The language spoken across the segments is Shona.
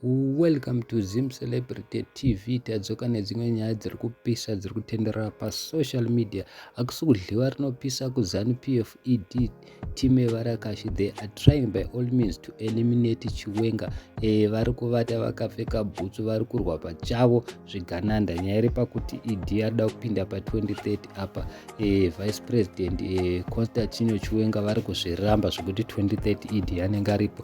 Welcome to Zim Celebrity TV. Tadzoka nedzimwe nyaya dziri kupisa dziri kutenderera pasocial media. Hakusi kudliwa rinopisa kuZanu PF ED team yevarakashi they are trying by all means to eliminate Chiwenga. E, vari kuvata vakapfeka bhutsu vari kurwa pachavo zvigananda. Nyaya iri pakuti ED yarida kupinda pa 2030 apa e, Vice President e, Constantino Chiwenga vari kuzviramba zvekuti 2030 ED anenge aripo.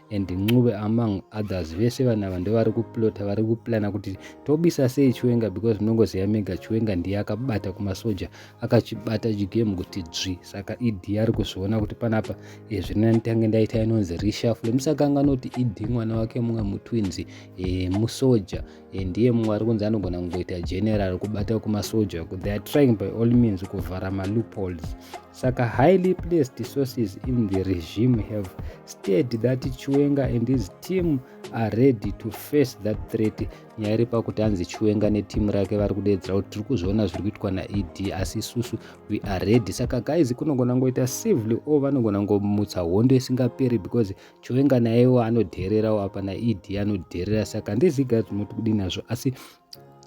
and ncube among others vese vanhu ava ndovari kuplota vari kuplana kuti tobisa sei chiwenga because munongoziva mega chiwenga ndiye akabata kumasoja akachibata chigame kuti dzvi saka ed ari kuzviona kuti panapa e, zvina nditange ndaita inonzi reshafle musakanga noti ed mwana wake mumwe mutwinzi e, musoja e, ndiye mumwe ari kunzi anogona kungoita general kubata kumasoja they are trying by all means kuvhara maloopholes Saka highly placed sources in the regime have stated that Chiwenga and his team are ready to face that threat. Nyaya iri pakuti hanzi Chiwenga netimu rake vari kudeedzera kuti tiri kuzviona zviri kuitwa naED asi isusu we are ready. Saka guys kunogona ngoita civilly or vanogona ngomutsa hondo isingaperi because Chiwenga nayewo anodheererawo apa naED anodheerera. Saka handiziga kuti munoti kudii nazvo asi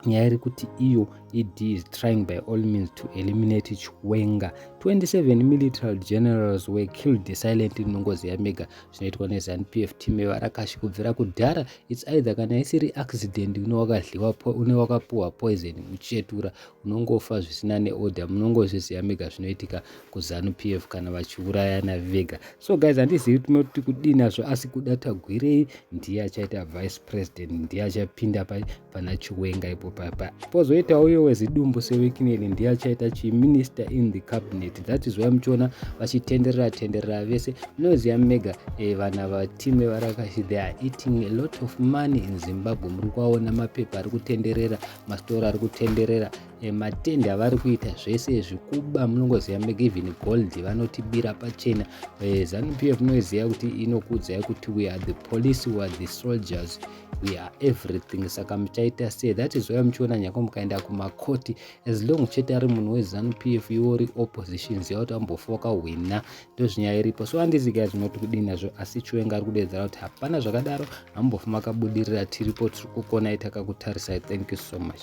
nyaya iri kuti iyo ed is trying by all means to eliminate chiwenga 27 military generals were killed silent inongozi yamega zvinoitwa nezanup f team yevarakashi kubvira kudhara its either kana isiri accident une wakapuhwa poison uchetura munongofa zvisina neorder munongozviziva mega zvinoitika kuzanu p f kana vachiurayana vega so guys handizivi tinoti kudii nazvo asi kuda tagwirei ndiye achaita vice president ndiye achapinda pana chiwenga ipo papa pozoita uyo wezidumbu sewikineli ndiye achaita chiminister in the cabinet that is why muchiona vachitenderera tenderera vese munoziva mega eh, vana vatime varakashi they are eating a lot of money in zimbabwe muri kuaona mapepa ari kutenderera masitora ari kutenderera eh, matendi avari kuita zvese zvikuba munongoziva megivin gold vanotibira pachena eh, zanu p f munoiziva kuti inokuudzai kuti we are the police we are the soldiers we are everything saka muchaita sei that is why muchiona nyako mukaenda kumakoti as long chete ari munhu wezanu p f iwo ri opposition ziva kuti ambofoka hwina ndozvinyaya iripo so andizi guys munoti kudii nazvo asi chiwenga ari kudeedzera kuti hapana zvakadaro hamumbofi makabudirira tiripo tiri kukonai takakutarisai thank you so much